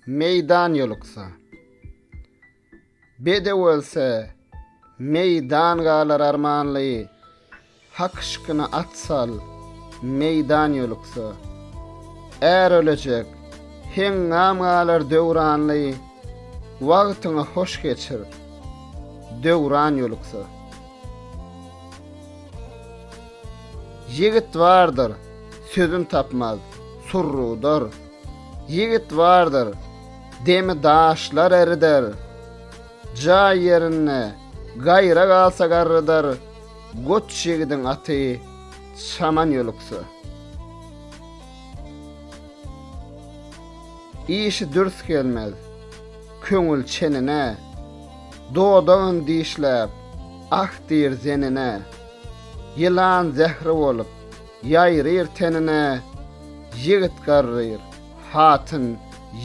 Meýdan ýoluksa. Bedew ölse, meýdan galar armanly. Hak şykyna at sal, meýdan ýoluksa. Är ölejek, heňňam galar döwranly. Wagtyňy hoş geçir, döwran ýoluksa. Ýigit bardyr, sözün tapmaz, surrudyr. Ýigit bardyr, demi daşlar erider. Jaý ýerinde gaýra galsa garrydyr, Goç ýigidiň aty çaman ýoluksa. Işi dürs gelmez. köňül çenine, Dodagyn dişläp, ah diýr zenine. Ýylan zähri bolup, ýaýryr tenine, Ýigit garryr, hatyn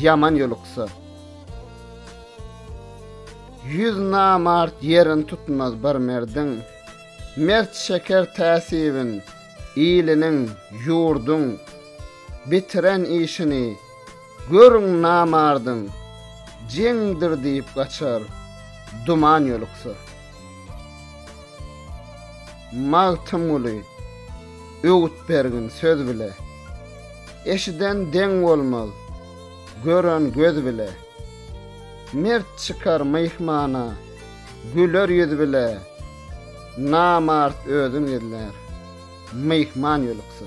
ýaman ýoluksa. Ýüz namart ýerin tutmaz bir merdiň, Mert çeker täsibin, iliniň, ýurduň, Bitiren işini, Görüň namardyň, jeňdir diýip gaçar, duman ýoluksa. Magtymguly, öwüt bergin söz bile. Eşiden deň bolmaz, gören göz bile. Mert çykar myhmana, güler ýüz bile. Namart özün gizlär, myhman ýoluksa.